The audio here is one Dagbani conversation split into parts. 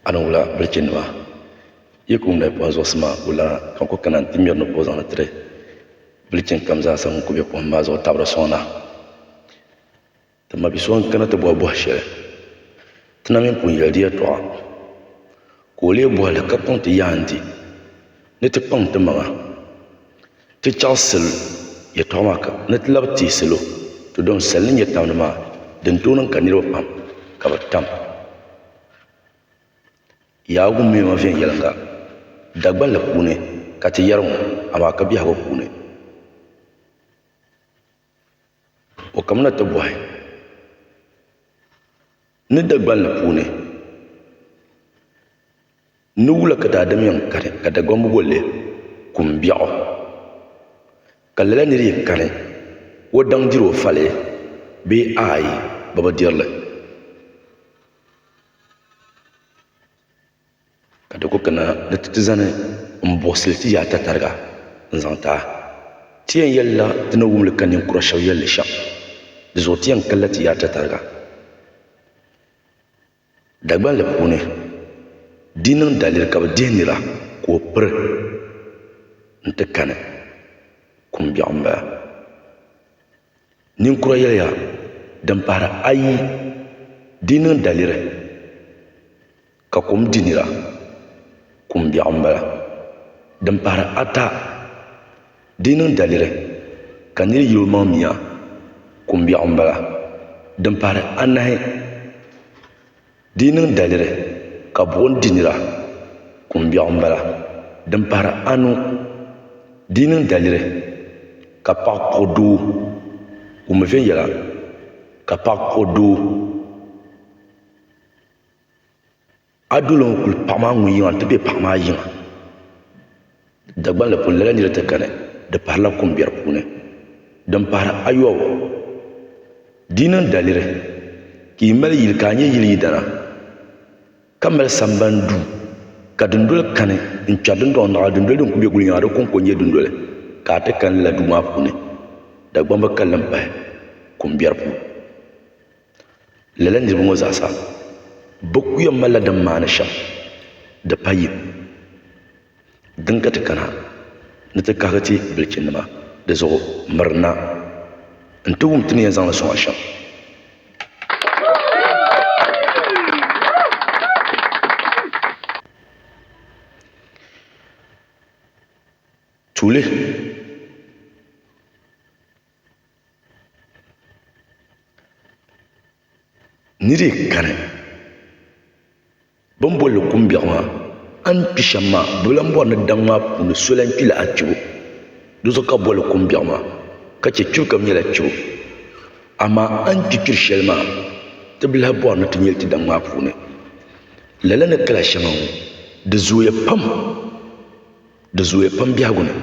a ni wula bilichi nima yi ku ŋmɛ kom zuɣusi maa ku lana ka n ku kana nti ŋmɛri ni boozaŋ ni tiri bilichin kam zaa sa ŋun ku be kom maa zuɣu tabiri sɔŋda ti mabi so n-kana ti bɔhi bɔh' shɛli ti na mini pun yɛli di yɛtɔɣa ka o leei bɔhi li ka kɔŋ ti yaandi ni ti kpaŋ ti maŋa. Ti chaɣisim yɛtɔɣa maa ka ni ti labi teei salo ti dɔŋ sal ni nyɛ tamdi maa din tooi niŋ ka niriba pam ka bɛ tam Yaawuni mɛma viɛnyɛliŋga Dagbanli puuni ka ti yɛri ŋɔ amaa ka biɛhigu puuni. O kamina ti bɔhi ni Dagbanli puuni ni wula ka daadam yɛn kani ka Dagbaŋ bi bolli Kumbiɛɣu ka lala nir yi kani o daŋ diri o fali bee aai bɛ bi diri li. Ka di ku kana ni ti ti zani m-buɣisili ti yaata tariga n-zaŋ ti a. Ti yɛn yɛlila ti ni wum li ka ninkura shɛba yɛli li shɛm. Di zuɣu ti yɛn kalila ti yaata tariga Dagbanli puuni. Di niŋ daliri ka bɛ dihi nira ka o piri nti kani kum biɛɣu m-bala. Ninkura yɛliya din pahiri ayi di niŋ daliri ka kom di nira kum biɛɣu n bala din pahiri ata di niŋ daliri ka niri yili o maŋ mia kum biɛɣu n bala din pahiri anahi Di yi niŋ daliri ka buɣim di nira, kumbiɛɣu m-bala. Din pahiri anu, di yi niŋ daliri ka paɣa kpuɣi doo, wummi viɛnyɛla ka paɣa kpuɣi doo. A duli n-kuli paɣa maa ŋun yiŋa nti be paɣa maa yiŋa. Dagbanli puuni lala nira ti kani, di pahirila kum biɛri puuni. Din pahiri ayɔbu, di yi niŋ daliri ka yi mali yili ka a nyɛ yili yidana, ka mali samban duu, ka dundoli kani n-kpɛri dindɔŋ naɣila dundoli din kul be gulinyaŋa, di kɔŋko n-nyɛ dundoli, ka a ti kani lala duu maa puuni, Dagbaŋ bi kali li m-pahi kum biɛri puuni. Lala niriba ŋɔ zaasa, bɛ ku yɛn malila din maani shɛm, di pa yim. Din ka ti kana ni ti kahigi ti bilichinnima di zuɣu miri na nti wum ti ni yɛn zaŋ li sɔŋ a shɛm. Tuuli. Ni di kani. Bɛ ni booni li kumbiɛɣu maa, a ni kpi shɛm maa, bɛ lan bɔri ni daŋ maa puuni so lan kpila a kpibu. Dizuɣu ka bɛ boli li kumbiɛɣu maa, ka chɛ kpibu ka di nyɛla kpibu. Amaa a ni kpi kpiri shɛli maa, ti bi lahi bɔri ni ti nyɛ li ti daŋ maa puuni. Lala ni kala shɛŋa ŋɔ, di zooya pam, di zooya pam biɛhigu ni.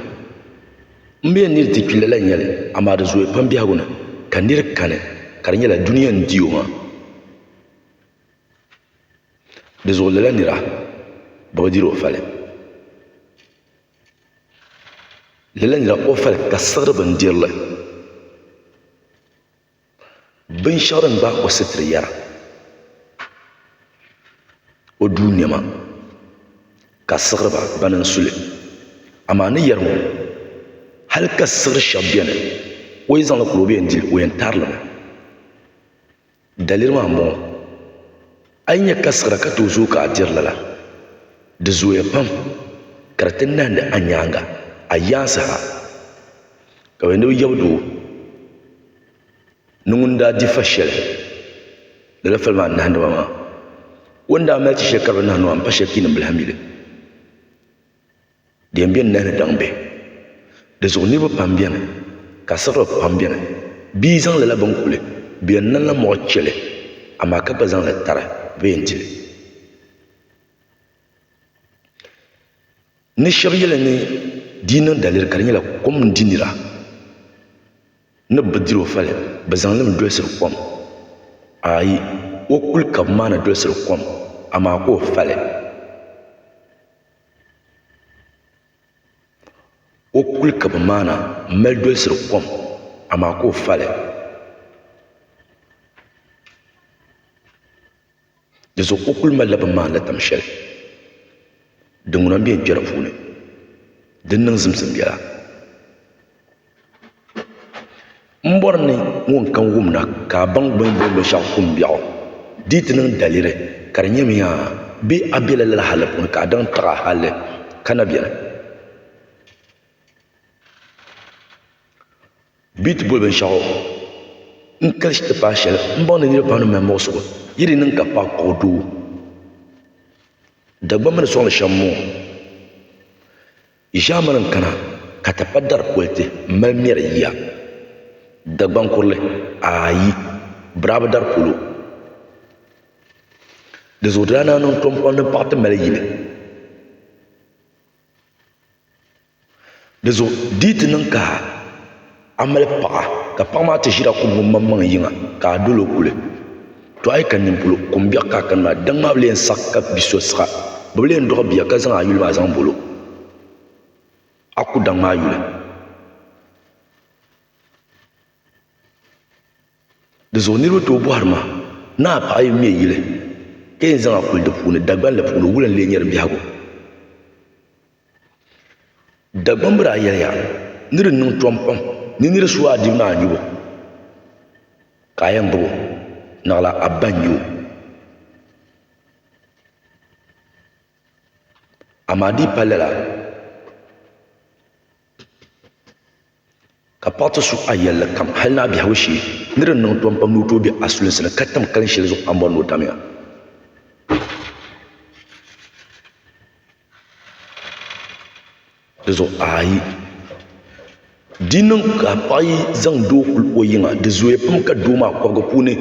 M bi yɛn neei ti kpi lala n-nyɛ li, amaa di zooya pam biɛhigu ni ka nir kani, ka di nyɛla dunia n-di o maa. Di zuɣu lala nira bi bi diri o fali lala nira o fali ka siɣiri bin dirili binshaɣu din gbaagi o sitira yɛra o duu niɛma ka siɣiri ba bini n suli amaa ni yɛri ŋɔ hali ka siɣiri shɛba bɛni o yi zaŋli kuli o bɛ yɛn dili o yɛn tarili mi. Daliri maa m-bɔŋɔ, a yi nya ka siɣira ka tooi zooi ka a diri lala, di zooya pam ka di ti nahindi a nyaaŋa a yaansi ha. Ka bɛ ni bi yab doo ni ŋun daa di fa shɛli lala fali maa nahindi ma maa, o ni daa mali ti shɛli ka di bi nahi ni maa m-pa shɛli piinim bila ha mi li. Din be n nahi ni daŋ be. Di zuɣu niriba pam beni, ka siɣiri pam beni. Bɛ yi zaŋ lala bini kuli bɛ yɛn niŋ la mɔɣu che li, amaa ka gba zaŋ li tari bɛ yɛn di li. Ni shɛba yɛli ni di yi niŋ daliri ka di nyɛla kom n-di nira, ni bɛ bi diri o fali, bɛ zaŋ li mi dolisiri kom. Aai! O kuli ka bɛ maa ni dolisiri kom, amaa ka o fali. O kuli ka bi maana m-mali dolisiri kom, amaa ka o fali. Di zuɣu o kuli malila bi maani la tam shɛli din ŋuna m-be n-kpɛri puuni din niŋ zimzim biɛla. M bɔri ni ŋun ka n wumda ka a baŋ bɛ ni boli luɣ'shɛŋa kumbiɛɣu di yi ti niŋ daliri ka di nyɛmi yaa bee a bela lala hali puuni ka a daŋ taɣi a halli ka na beni bɛ yi ti boli binshɛɣu n kalisi ti paai shɛli m baŋ ni niriba pam ni mali muɣisigu yi di niŋ ka paɣ kpuɣi doo Dagbaŋ mini sɔŋ ni shɛm m-bɔŋɔ Ʒiɛmani n-kana ka ti pa dari politi m-mali mɛri yiya. Dagbaŋ kurili, ayi, Birabi dari polo. Di zuɣu di daa naan niŋ Tompɔŋ ni paɣa ti mali yili. Di zuɣu di yi ti niŋ ka. A mali paɣa ka paɣa maa ti ʒira kubu ŋun maŋmaŋ yiŋa ka a dol o kuli. To a yi kani nini polo, kum biɛɣu ka a kani maa. Daŋ maa bi leen saɣi ka bi so siɣa. Bɛ bi leen dɔɣi bia ka zaŋ a yuli maa zaŋ bol o. A ku daŋ maa yuli. Di zuɣu niriba tooi bɔhiri ma, Naa, paɣa yi me yili, ka yɛn zaŋ a kuli di puuni, Dagbanli puuni wula n-lee nyɛ di biɛhigu? Dagbaŋ bi daa yɛliya ni di niŋ tɔm pam ni nir su a dibu ni a nyubu, ka a yɛn gbubi o, naɣila a ba n-nyɛ o. Amaa di yi pali lala, Ka paɣ ti su a yɛlli kam hal ni a biɛhigu shee, ni di niŋ tɔm pam ni o tooi be a sulinsi ni ka tam kalin shɛli zuɣu a ni bɔri ni o tamya. Di zuɣu a yi di niŋ ka a paɣ yi zaŋ doo kuli o yiŋa, di zooya pam ka doo maa kɔbiga puuni.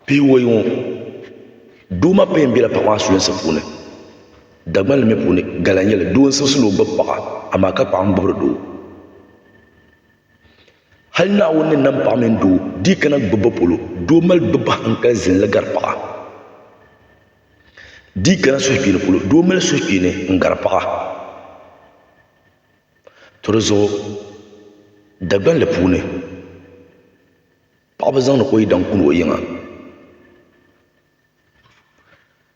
Piiwoyi ŋɔ, doo maa payɛn bela paɣa maa sulinsi puuni. Dagbanli mi puuni, gala n-nyɛ li. Doo n-siɣisi ni o gbibi paɣa, amaa ka paɣa mi gbibiri doo. Hal Naawuni ni nam paɣa mini doo di yi kana gbibbu polo, doo mali gbibbu hankali zinli gari paɣa. Di yi kana suhukpeeni polo, doo mali suhukpeeni n-gari paɣa. To di zuɣu Dagbanli puuni. Paɣa bi zaŋdi ka o yidana kuli o yiŋa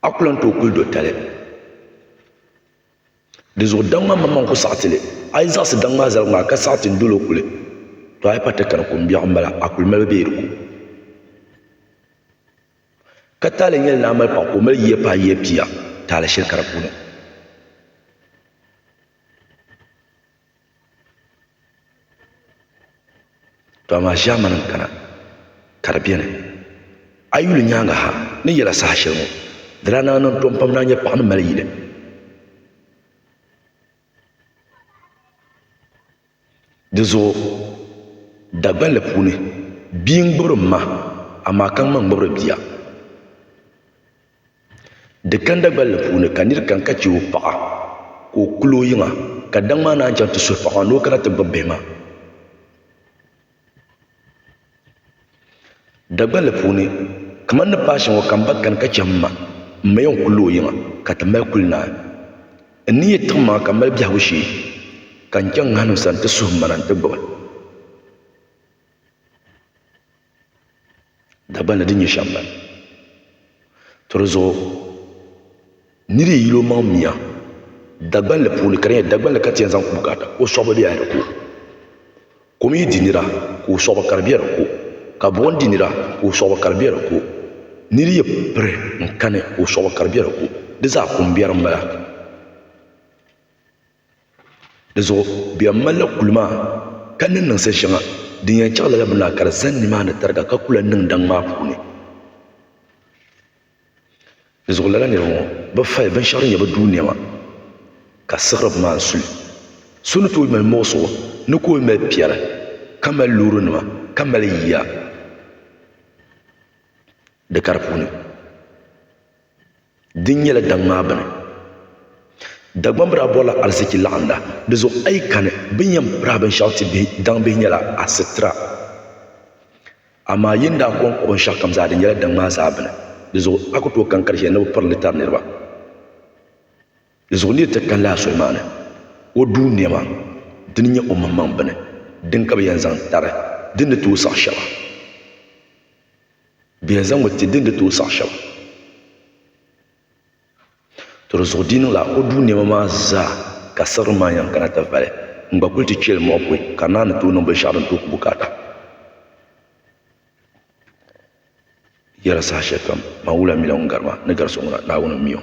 a ku lan tooi kuli do tali dizuɣu daŋ maa maŋmaŋ ku saɣiti li a yi zaɣisi daŋ maa zaligu maa ka saɣiti n dolo kuli to a yi pa ti kani ko biɛɣu m bala a kuli mali bɛ yi di ku ka taali nyɛli ni a mali paɣa ka o mali yiya paai yiya pia taali shɛli ka di puuni To amaa ʒiɛmani n kana ka di biɛni a yi yuli nyaangi ha ni yɛla saha shɛli ŋɔ di daa naan niŋ tom pam ni a nyɛ paɣa ni mali yili dizuɣu dagbanli puuni bia n ŋmubiri n ma amaa ka ŋma n ŋmubiri bia Di ganda gballi puuni ka nir kani ka chɛ o paɣa ka o kul o yiŋa, ka daŋ maa naan chaŋ ti suhi paɣ maa ni o kana ti gbibi bihi maa. Dagballi puuni, kaman ni paai shɛŋa ka m ba kani ka chɛ m ma, m ma yɛn kul o yiŋa ka ti mali kul naai. N ni yi tiɣi ma ka m mali biɛhigu shee, ka n chaŋ ŋahinim sani ti suhi m ma na nti gbibi. Dagban ni di nyɛ shɛm bala. To di zuɣu nir yi yil o maŋ mia Dagbanli puuni ka di nyɛ Dagbanli ka ti yɛn zaŋ kubu garita o suɣ bi be hal di ko. Kom yi di nira ka o suɣ bi kari be di ko, ka buɣim di nira ka o suɣ bi kari be di ko, nir yi piri n-kani ka o suɣ bi kari be di ko, di zaa kumberi m-bala. Di zuɣu bɛ yɛn malila kuli maa ka niŋ niŋsi shɛŋa din yɛn chaɣ lala bini maa ka di zani nimaani tariga ka ku lahi niŋ daŋ maa puuni. Di zuɣu lala niriba ŋɔ bɛ fali binshɛɣu din nyɛ bɛ duu nɛma ka siɣiri bɛ maŋ suli. So ni tooi mali muɣisigu ni ka o yi mali piɛri ka mali loorinima ka mali yiya. Di kari puuni, di nyɛla daŋ maa bini. Dagbaŋ bira bɔrila ariziki laɣimda. Di zuɣu a yi kani, bini yɛn piri a binshɛɣu ti bihi, daŋ bihi nyɛla a sitira. Amaa yi ni daa kɔŋ kɔbi binshɛɣu kam zaa, di nyɛla daŋ maa zaa bini. Di zuɣu a ku tooi kani kari shɛli ni bi piri li tari niriba. Di zuɣu nir ti kanila a soli maa ni o duui nɛma, di ni nyɛ omaŋmaŋ bini, din ka bi yɛn zaŋ tari din ni tooi saɣi shɛba. Bɛ yɛn zaŋmi ti din di tooi saɣi shɛba. To di zuɣu di yi niŋla o duu nɛma maa zaa ka siɣirim maa yɛn kana ti vali n gba kuli ti kpeli mɔɣu pɔi ka naa ni tooi niŋ binshɛɣu din tooi ku bukaata yɛla saha shɛli kam maa n wula mila ŋun gari ma ni gari so ŋuna Naawuni m-mi o.